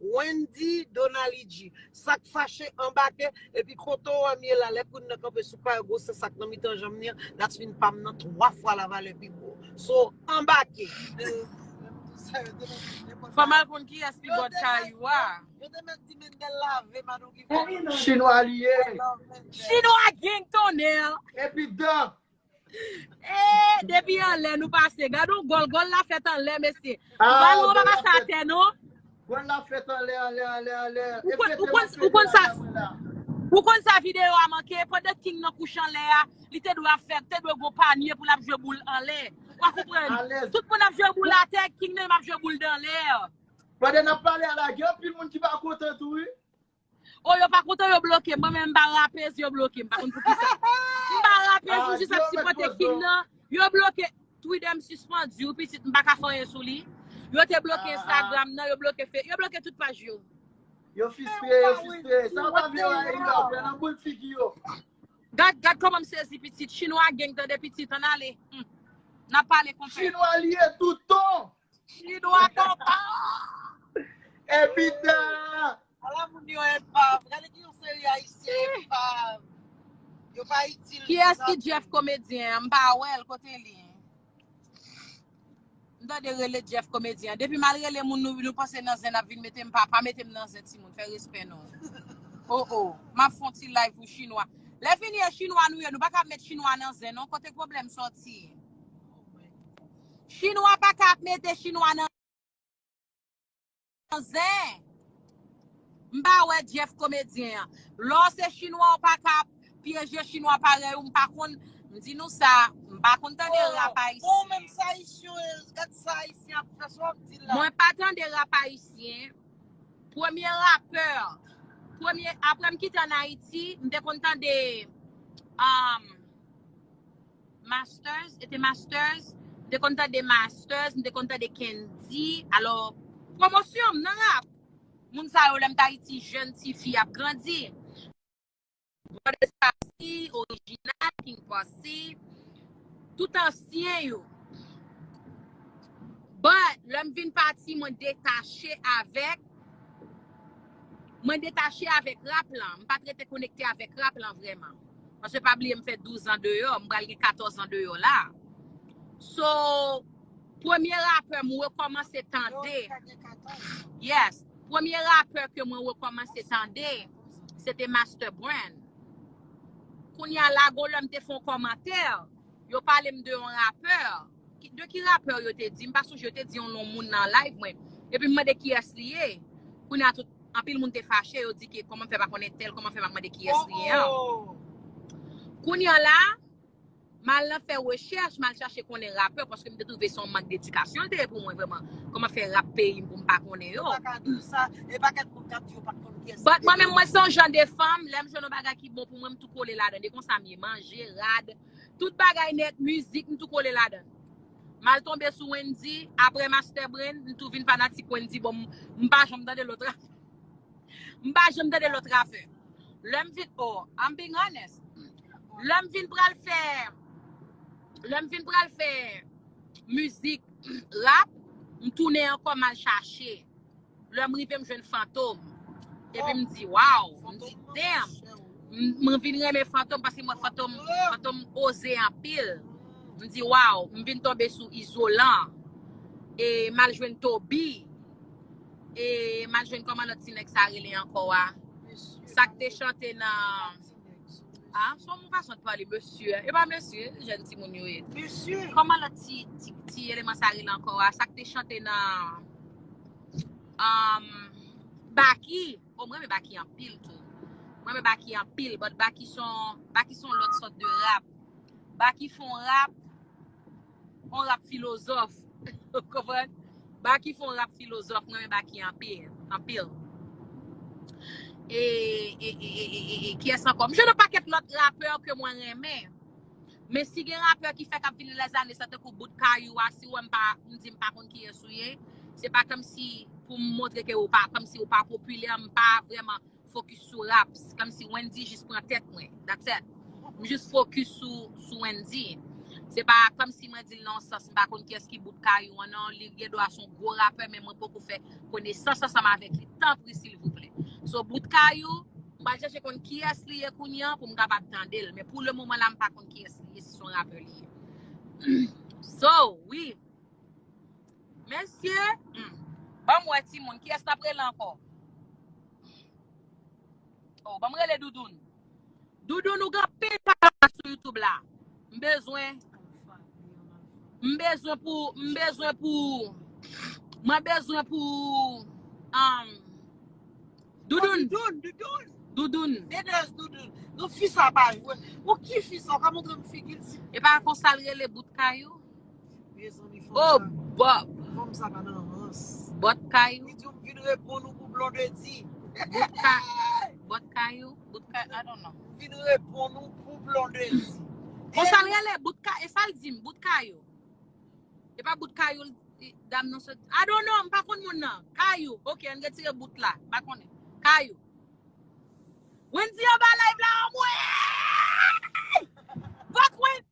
Wendy Donalidji sak fache anbake epi kote w anm ye la lè koun nan kanpe sou pay gwosè sak nan mitan janm li an dat fin pam nan 3 fwa la valè pi gwo so anbake. Fòm al konn kiyès ki bòt kayou a. Yo te mèt di Mendel lave Madoki vòlò. Chinwa li ye. Chinwa gang tonnerr. Epi dan Eee, depi anlè nou pase. Gad yon gòl, gòl la fèt anlè, mesye. Ah, Balon an pa pase atè, non. Gòl la fèt anlè, anlè, anlè, anlè. Ou konn, ou konn, ou konn sa. Ou konn sa videyo a manke? Pandan King nan kouche anlè a, li te dwe ap fè, te dwe gon panye pou l ap jwe boul anlè. Ou konprann? Tout moun ap jwe boul atè, King nan menm ap jwe boul danlè. Pandan n ap pale a la, gen anpil moun ki pa kontan tou wi. Oh yo pa kontan yo blokem mwen menm mpa rapez yo blokem pa konn poukisa mpa rapez mwen jis ap sipote king nan yo bloke Twitter m sispann diw pitit m paka fè anyen sou li yo te bloke Instagram nan yo bloke fe yo bloke tout paj yo Yo fistre, yo fistre. Sa ou pa vle yo a Eyla ou pran nan boul figi yo. Gad, gad kòman m sezi pitit. Chinwa geng tande pitit, ann ale. Hum. N ap pale konpè. Chinwa li ye tout ton! Chinwa konpa! Evita! Ala moun yo enpav. Gade ki yon seri ayisyen enpav. Yo pa itil. Ki es ki Jeff komedyen an? M pa wè l, kote li? M tande rele Jeff komedyen an. Depi mal rele moun nou, nou panse nan zen n ap vin mete m pa, pa mete m nan zen ti moun, fè respè non. O o, m ap fon ti live pou chinwa. Lè fini e chinwa nou ye, nou pa kab met chinwa nan zen non, kote pwoblèm sòti? Chinwa paka ap mete chinwa nan zen. M pa wè Jeff komedyen an. Lè w se chinwa w paka ap pyeje chinwa parèy ou m pa konn m di nou sa m pa konn tande rap ayisyen. Mwen pa tande rap ayisyen. Premye rapè premye aprè m kite an Ayiti m te konn tande Masters, ete masters, m te konn tande masters, m te konn tande kendy, alò pwomosyon m nan rap. Moun sa yo lè m t Ayiti jèn ti fi ap grandi. Brothers Posse, Original, King Posse, tout ansyen yo. But lè m vin pati mwen detache avèk. Mwen detache avèk rap lan, m pat rete konekte avèk rap lan vrèman. Paske pa bliye m fè 12 an deyò, m pral gen 14 an deyò la. So, premye rapè m rekòmanse tande, yes, premye rapè ke mwen rekòmanse tande, se te Master Brand. Kounya la gon lè m te fè yon kòmantè, yo pale m de yon rapè, De ki rapeur yo te di? M pa sonje yo te di yon non moun nan live mwen. Epi m mande kiyès li ye. Kounye a tout, anpil moun te fache, yo di ke kòman m fè pa konnen tèl, kòman m fè pa mande kiyès li ye an. Kounye a la, m al nan fè rechèch, m al chache konnen rapè, paske m te twouve se yon mank dedikasyon l te ye pou mwen vrèman. Kòman fè rap peyi m pou m pa konnen yo? Yo pa ka di w sa, e pakèt moun k ap di yo pa t konn kiyès li ye. But mwen menm mwen se yon jan de fanm, lè m jwenn yon bagay ki bon pou mwen, m tou kole ladan l. E konsa m ye. Manje, rad. Tout bagay nèt mizik m tou kole ladann. M al tonbe sou Wendy aprè Master Brain m tou vin fanatik Wendy bon m pa janm tande lòt rapè. M pa janm tande lòt rapè. Lè m vin oh I'm being honest. Lè m vin pral fè lè m vin pral fè mizik rap m tounen ankò m al chache. Lè m rive m jwenn Fantom epi m di waw, m di damn m vin renmen Fantom paske m wè Fantom, Fantom oze anpil, m di waw, m vin tonbe sou Izolan e m al jwenn Toby e m al jwenn kòman lòt ti nèg sa rele ankò a, sa k te chante nan. Ah, son mou fason de pale mesye a. E pa mesye, jèn timoun yo ye. Mesye! Kòman lòt ti, ti, ti eleman sa rele ankò a? Sa k te chante nan um, Baky. Oh, m renmen Baky anpil tou. M renmen Baky anpil, but Baky son, Baky son lòt sòt de rap. Baky fon rap. On rap filozòf. Ou konprann? Baky fon rap filozòf. Mwen renmen Baky anpil. Anpil. E, e, e, e, e, e, kiyès ankò? M jwenn on pakèt lòt rapè ke mwen renmen. Men si gen rapè ki fèk ap vini les années sa tankou bout Kayou a, si ou wè m pa, m di m pa konn kiyès ou ye, se pa kòmsi pou m montre ke ou pa, kòmsi ou pa popilè, m pa vrèman focus sou rap se kòm si Wendy jis pran tèt mwen that's it m jis focus sou Wendy se pa kòm si mwen dil nan yon sans m pa konn kiyès ki bout kayou an non li gen dwa son gwo rapè men mwen poko fè konesans ansanm avèk li tanpri silvouplè so bout kayou m pral chèche konn kiyès li ye kounye an pou m kapab tandel men pou le moman la m pa konn kiyès li ye si son rapè li ye so wi mesye humm banm wè timoun kiyès nap rele ankò. Oh banm rele Doudoune. Doudoune ou gen anpil palabra sou YouTube la. M bezwen m bezwen pou m bezwen pou mwen bezwen pou um Doudoune. Doudoune, Doudoune. Doudoune. Dedeuse Doudoune. Non fi sa pa jwe. Bon ki fi sa ou ka montre m figil si. Epa konsa l rele bout kayou. Oh Bob! Bòt kay ou? Bòt kay ou? Bout kay I don't know. Konsal rele bout kay e sal dim bout kay ou? E pa bout kay ou dam nan sot I don't know m pa konn moun nan. Kay ou? Ok ann retire bout la. M pa konnen. Kay ou? Wendy anba live la anmweyy! Vòt Wendy!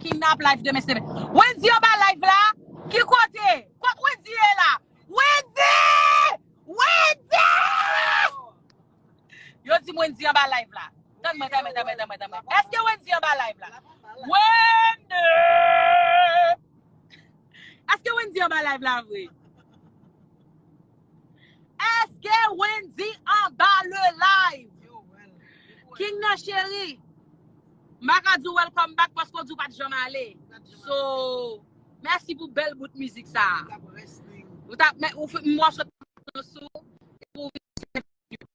Kidnap live demen se demen. Wendy anba live la? Ki kote? Kot Wendy ye la? Wendy! Wendy! Yo di m Wendy anba live la. Tann mwen, tann mwen, tann mwen, tann mwen, tann mwen. Eske Wendy anba live la? Wendy! Eske Wendy anba live la vre? Eske Wendy anba le live? King nan cheri, m pa ka di w welcome back paske w di w pa t janm ale. So, mèsi pou bèl bout mizik sa a. Ou ta, m wè w sot pran sou, epi w vin chante pou nou.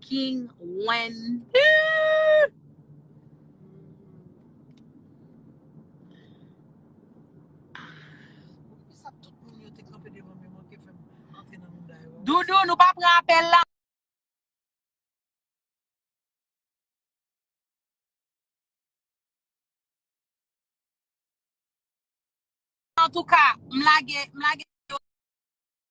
King Wendy. Doudou nou pa pran apel la. Antouka, m lage.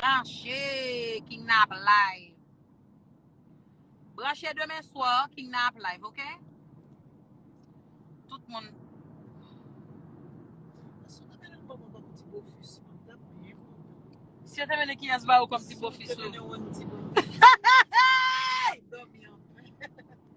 Branche king nan ap live. Branche demen swa king nan ap live ok. Tout moun. Si yo te mene kiyes ba ou kom ti bofis ou.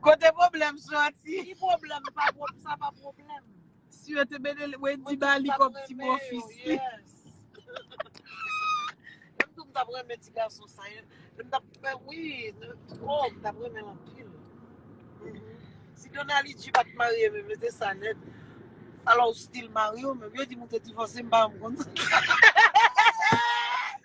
Kote pwoblèm soti? Ki pwoblèm? Pa pwob, sa pa pwoblèm. Si yo te mete l, Wendy ba li kòb ti bofis li. Mwen tou m tap renmen ti gason sa. M tap fè wi. Oh, m tap renmen l anpil. Si Donali G pat marye menm, yo te sa nèt. Alò ou stil marye ou menm. Yo di m ou te divòse, m pa janm konn sa.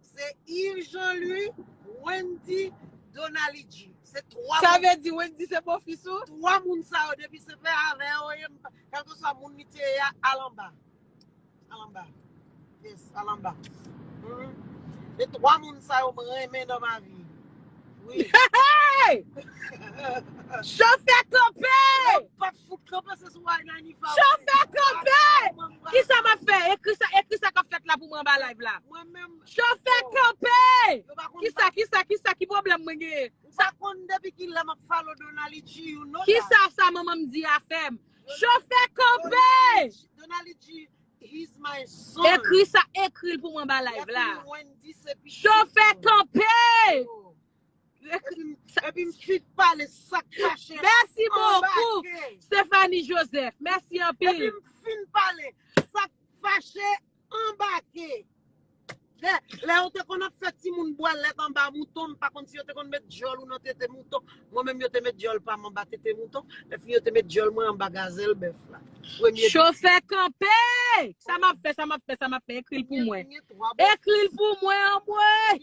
Se Yves Jean Louis, Wendy, Donalidji. Se 3 Sa moun, vle di Wendy se bofis ou? 3 moun sa yo depi se fè avè yo ye, m pa- kèlkeswa moun li te ye a, al anba. Al anba. Yes, al anba. Mhm. Se 3 moun sa yo m renmen nan ma vi. Oui. Hey! Chofè kanpe! Yo pap Chofè kanpe! Kisa map fè? Ekri sa, ekri sa kap fèt la pou mwen anba live la. Chofè kanpe! Kisa, kisa, kisa, ki pwoblèm mwen genyen? Kisa sa manman m di a fè m? Chofè kanpe! Ekri sa, ekri l pou mwen anba live la. Chofè kanpe! Epi m fin pale sak kache. Mèsi bokou Stephanie Joseph. Mèsi anpil. Epi m fin pale sak fache anbake. Lè yo te konn ap fè timoun bwè lèt anba mouton, m pa konn si yo te konn met dyòl ou nan tete mouton. Mwen menm yo te met dyòl pa m anba tete mouton. Epi yo te met dyòl mwen anba gazèl bèf la. Chofè kanpe! Sa m ap fè, sa m ap fè, sa m ap fè. Ekri l pou mwen. Ekri l pou mwen anmwey!